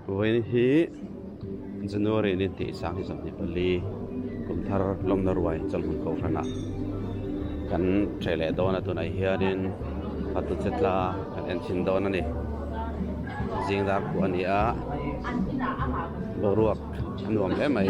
Vawiin hi January ni tih sang hi zawhni pali kum thar lawmna ruai chawlhbuk Kohhranah kan che leh dawn a tunah hianin Hatuchetla kan en thin dawn a ni zing dar pawh a ni a boruak a nuam hle mai.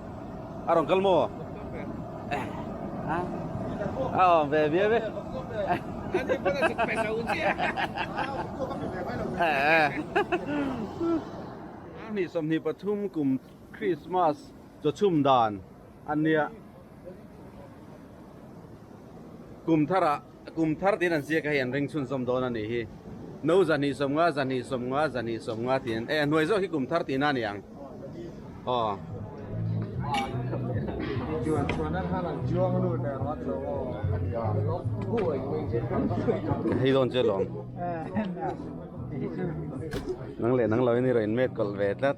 A rawn kal maw? A awm ve viau ve. Hnih sawmhnih pathum kum Krismas chawchhum dan a nia. Kum tharah. A kum thar tiin an ziak a hei an ring chhun sawm dawn a nih hi. No zahnih sawm nga, zahnih sawm nga, zahnih sawm nga tiin eh a hnuai zawk hi kum thar tihna a ni ang. Aw. Hei dawn che lawm. Nang leh nang loin i rawn inmet kawlh ve tlat.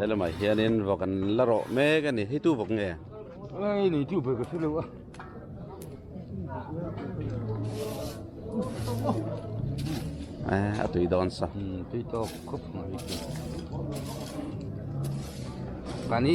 Helai lamah hianin vawk an la rawh mek a ni heitu vawk nge? Nge nei chu bawk a si lo a. a tui dawn sa tui tawk khawp mai hi chu ka ni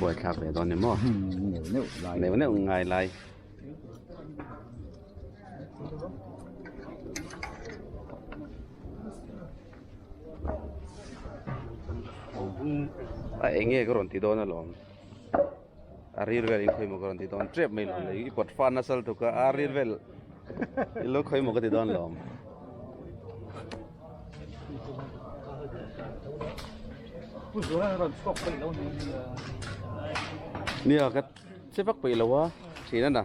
buai thlak ve dawn em aw neuh neuh ngai lai a eng nge ka rawn ti dawn alawm a ril vel in khawi maw ka rawn ti dawn tep mai lo i kawt fana sal tuk a a ril vel i lo khawi maw ka ti dawn alawm nia ka che vak peih lo a thin a na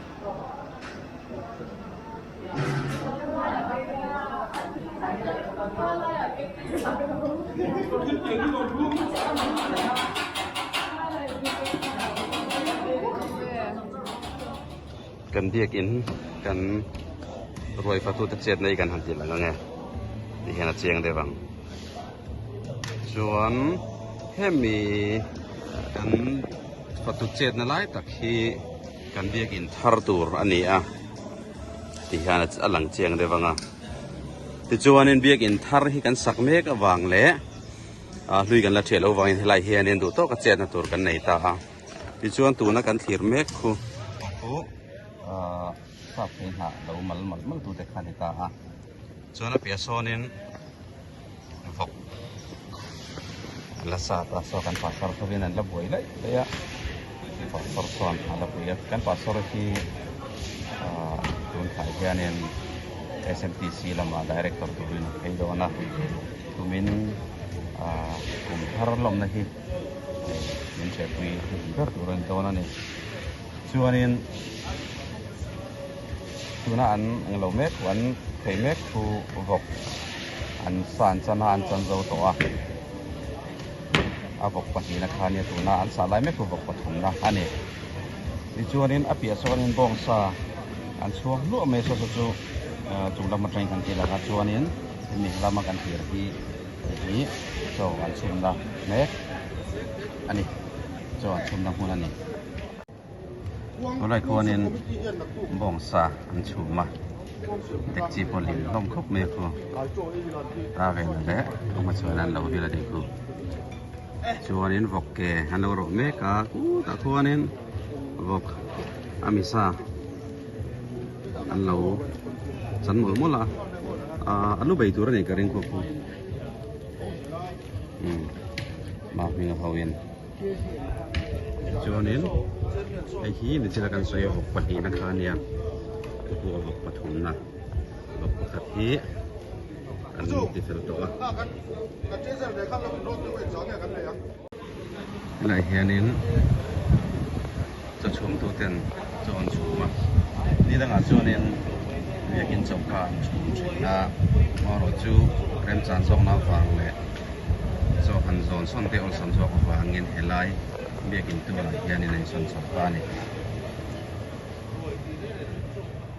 kan biakin kan ruaifachu te chet mai kan han ti lang ange tih hian a chiang deuh ang chuan hemi kan fatu chetna lai tak hi. Kan biak in thar tur a ni a ti hian a lang chiang deuh vang a. Tichuanin biak in thar hi kan sak mek avang leh hlui kan la thiah loh vangin helai hianin duh tawka chetna tur kan nei ta a. Tichuan tuna kan thlir mek khu chu chhuak phei hnah lo mal mal mal tute kha a ni ta a. chuan a piah sawnin vawk la sa ta saw kan pa sawr hovin an la buai laih laih a pa sawr chuan a la pui a kan pa sawr hi ah tunhlai hianin SMTC lama director turin an phei dawn a tumin ah kum thar lawmna hi min hriatpui a ni ber tur a ni dawn a ni. Chuanin tuna an eng lo mek thu, an theih mek thu vawk an sa an chan a, an chan zo tawh a. A vawk pahnihna kha nia tuna an sa lai mek thu vawk pathumna a ni. Tichuanin a piahah chuan bawng sa an chhuak hluah mai sasa chu chung lam atangin kan tih laka chuanin hemi lama kan tih hi chaw an chhimna mek a ni. chuan chhumna hmun a ni. Khawlai khuanin bawng sa an chhum a, dekchi pawh lim hlawm khawp mai a khu. A ve nalh leh a hmachhain an lo hil a ni khu. Chuanin vawk ke an lo rawh mek a, khutah khuanin vawk ami sa an lo chan mawlh mawlh a, a lu bei tur a ni ka ring khawp khu. umm mah hming ho in chuan in hei hi mi chila kan sawi a vawk pahnih na kha nia ka hmu a vawk pathum na vawk pakhat hi kan ti fel tawh a tunah hian in. Chaw chhumtu ten chaw an chhum a, ni dangah chuanin biakin chaw kha an chhum thin a, amaherawhchu chu remchan zawkna avang leh chaw han zawn sawn te awlsam zawk avangin helai biakin tunah hianin a insawn chawp ta a ni.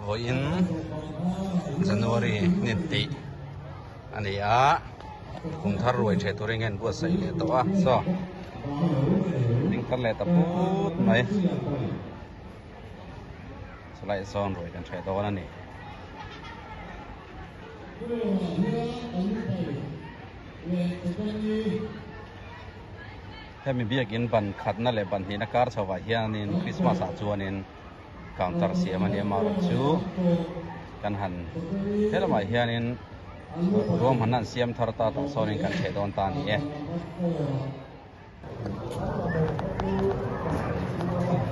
vawiin January nge tih a ni a, kum thar ruai ṭhe tur enge an buatsaih leh tawh a chaw, ding tlat leh ta put mai, chulaiah sawn ruai kan ṭhe dawn a ni. Hemi biakin ban khatna leh ban hnihna kar chhovah hianin Krismas ah chuanin. counter siam a ni a mahrawn chu kan han helamah hianin ruam han han siam thar ta tah sawnin kan chheh dawn ta a ni e.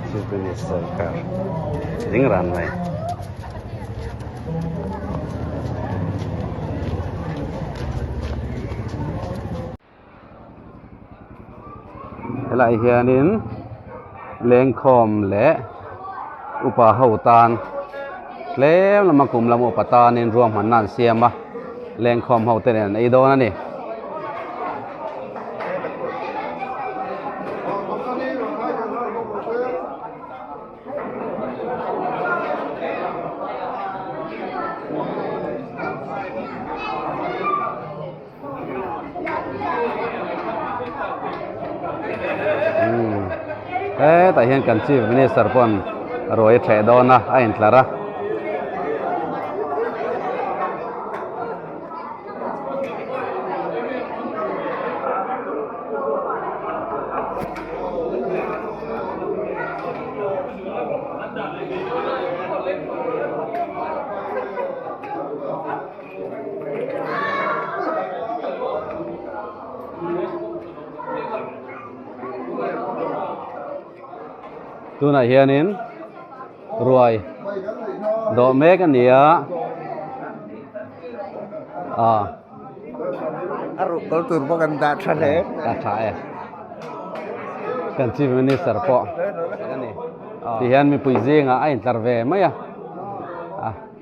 Jubilee Sawrkar ding ran mai. he lah hianin lengkhawm leh upa ho tan tlem lama kum lama upa tanin ruahmanna an siam a lengkhawm ho te nen an ei dawn a ni. hetah hian kan chief minister pawh an ruai ṭheh dawn a a intlar a tunah hianin ruai dawh mek a ni a ah a ruk kal tur pawh kan dah tha hle ka tha e kan chief minister pawh tihian mipui zingah a intlar ve mai a ah.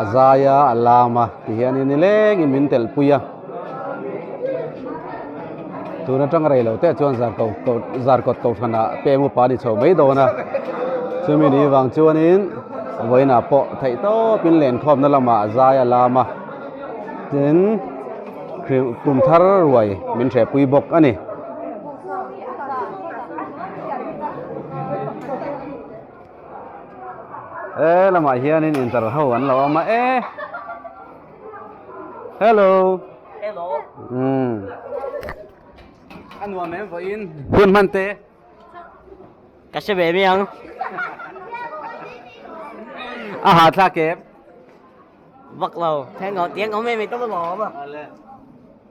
a zai a a lam a ti hian in ni leng in min tel pui a tun atang rei lo te chuan zar ko ko zar kawt ko hran ah peng upa a ni chho mai dawn a chumi ni vang chuan in vawiin ah pawh theih tawp in len khawm na lamah a zai a lam a tin hrim kum thar ruai min hreh pui bawk a ni he lamah hianin inter ho an lo awm a e hello hello um a nuam em vawiin hun hman te ka hre ve miang a ha thla kep vak lo thengaw tiang awm em i tawk lo awm a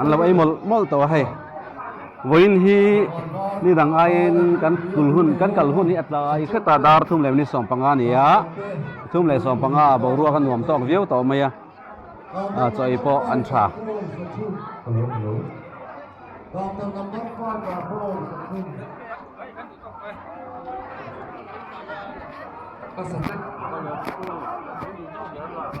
an lo ei mawlh mawlh tawh a hei vawiin hi ni dang aiin kan kul hun kan kal hun hi a tlai hret a dar thum leh minute sawm panga a ni a thum leh sawm panga ah boruak a nuam tawk viau tawh mai a a chawi pawh an tha Thank you.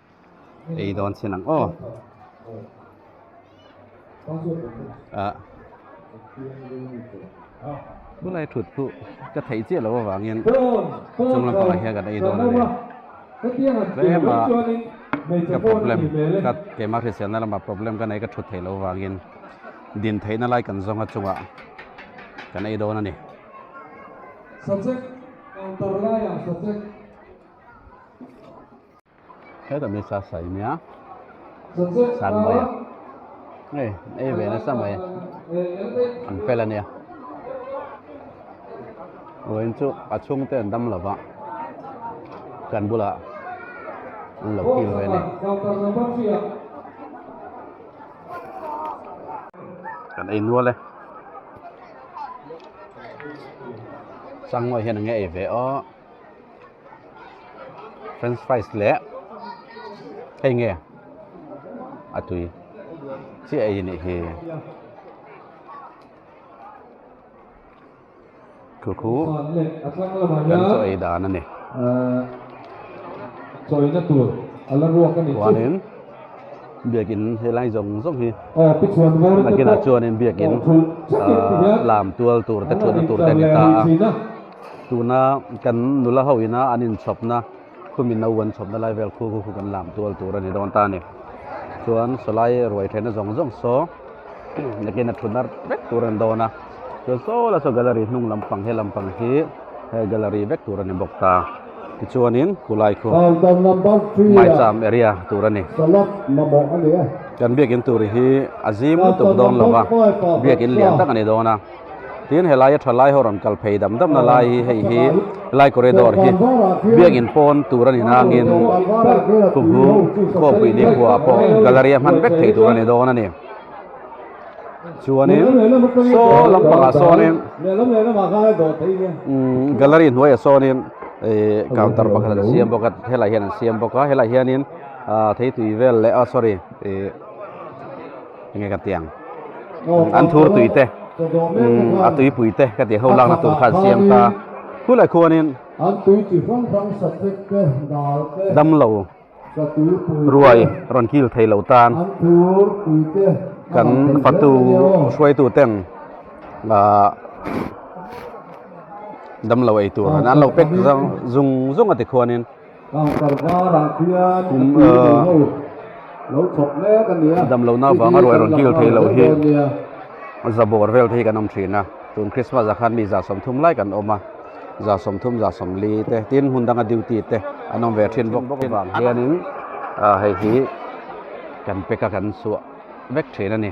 eidawn sin ang aw ah khulai thut chu ka thei chiah lo avangin chung lampangah hian kan eidawn a ni tlem a ka problem ka kema hriselna lama problem ka nei ka thut theih lo avangin din theihna lai kan zawnga chungah kan eidawn a ni He ta misa sai nia. San mai a. Hey, ei ve na sa mai. An fel ania. Oin chu a chung te an dam lova. Kan bula. An lo kil ve ni. Kan ei nual e. Chang mai hian nge ei ve o. french fries leh hei nge a tui chiah ei anih hi khukhu kan chaw ei dan a ni chuanin biakin helai zawng zawng hi a kinah chuanin biakin lam tual tur te thutna tur te an ni ta a. Tuna kan nula ho ina an inchhawpna khumi no an chhawpna lai vel khu khu kan lam tual tur a ni dawn ta a ni. Chuan Salai ruai thena zawng zawng saw nakin a thut arh vek tur a ni dawn a. Chuan saw la saw gallery hnung lampang he lampang hi he gallery vek tur a ni bawk ta. Tichuanin Kulai khu Maicham area tur a ni. Kan biakin tur hi a zim lutuk dawn lova biakin lian tak a ni dawn a. Tin he laia tha lai ho rawn kal phei dam dam na lai hi hei hi Lai Corridor hi biak in pawn tur a ni nangin Khukhu Khawpui Nikhua pawh Gallery a hman vek thei tur a ni dawn a ni. Chuanin saw lampangah sawnin Gallery hnuaiah sawnin counter pakhat an siam bawk a, helaiah hian an siam bawk a, helaiah hianin Theitui vel leh a sorry. enge ka tiang an thur tui te a tui pui te ka ti ho lak na tur khan siam ta khu lai khu anin an tui chi fang fang sa tek te dal te dam lo sa tui pui ruai ron kil thei lo tan an thur tui te kan fatu hruai tu teng la dam lo ei tur an lo pek zong zong zong ati khuanin damlohna vang erawh i rawn kil thei loh hi zabawr vel te hi kan awm thin a tun krismas ah khan mi za sawm thum lai kan awm a za sawm thum za sawm li te tin hmun danga duty te an awm ve thin bawk bawk avang hianin hei hi kan pack a kan suah vek thin a ni.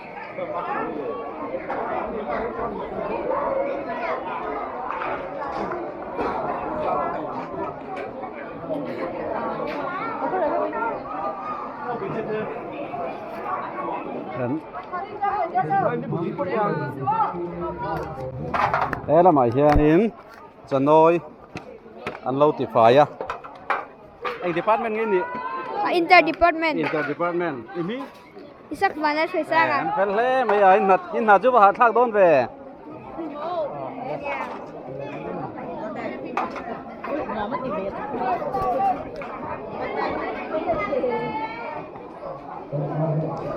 he lamah hianin chanawi an lo ti fai a eng department nge nih inter department inter department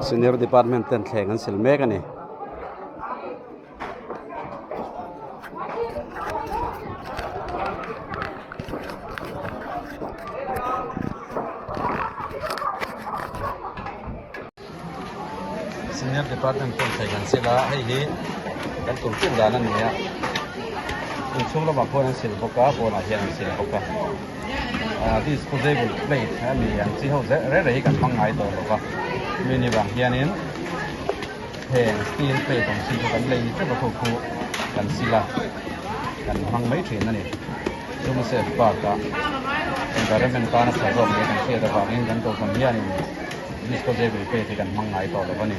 Senior department ten thleng an sil mek a ni. senior department pawh thei kan sila hei hi kan tur chin dan a ni a inchhung lamah pawh an sil bawk a pawnah hian an sil bawk a disposable plate a ni ang chi ho rei rei hi kan hmangaih tawh lo va nuih ni vang hianin. Heng steel plate awm si chu kan lei tep a khukhu kan sil a, kan hmang mai thin a ni. Chuma set part ah environment tana chhawr zawk leh kan hriat avangin kan dohvan hianin disposable pet hi kan hmang ngai tawh lo a ni.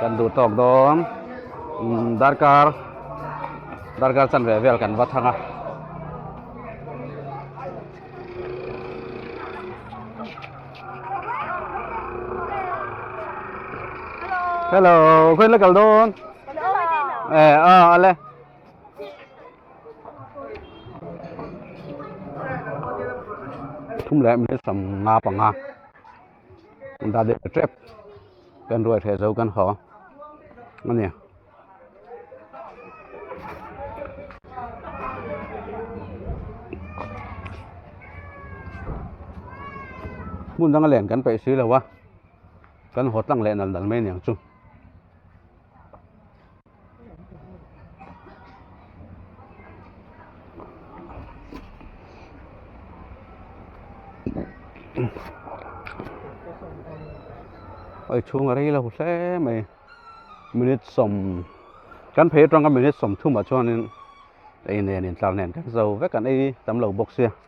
kan duh tawk dawn darkar darkar chan ve vel kan va thang a hello khawin la kal dawn eh a a le thum leh hmel sam nga panga Dah leh ta tep kan ruai hreh zo kan haw a nia. Hmun danga len kan peih si lo a, kan haw tlang leh nal nal mai niang chu. oi chhung a rei lo hle mai minute sawm kan phei atanga minute sawm thumah chuanin ei nen intlar nen ka hre zo vek an ei tam lo bawk sia.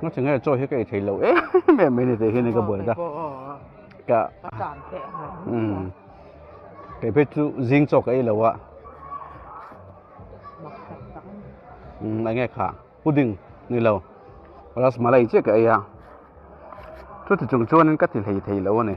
Nga chi nge chaw hi ka ei thei lo em em mai ni tih hian ka buai ta. Ka tan te a um kei phei chu zing chaw ka ei lo a. Um enge kha pudding ni lo rasmalai chiah ka ei a. Chu ti chung chuan ka ti hlei thei lo a ni.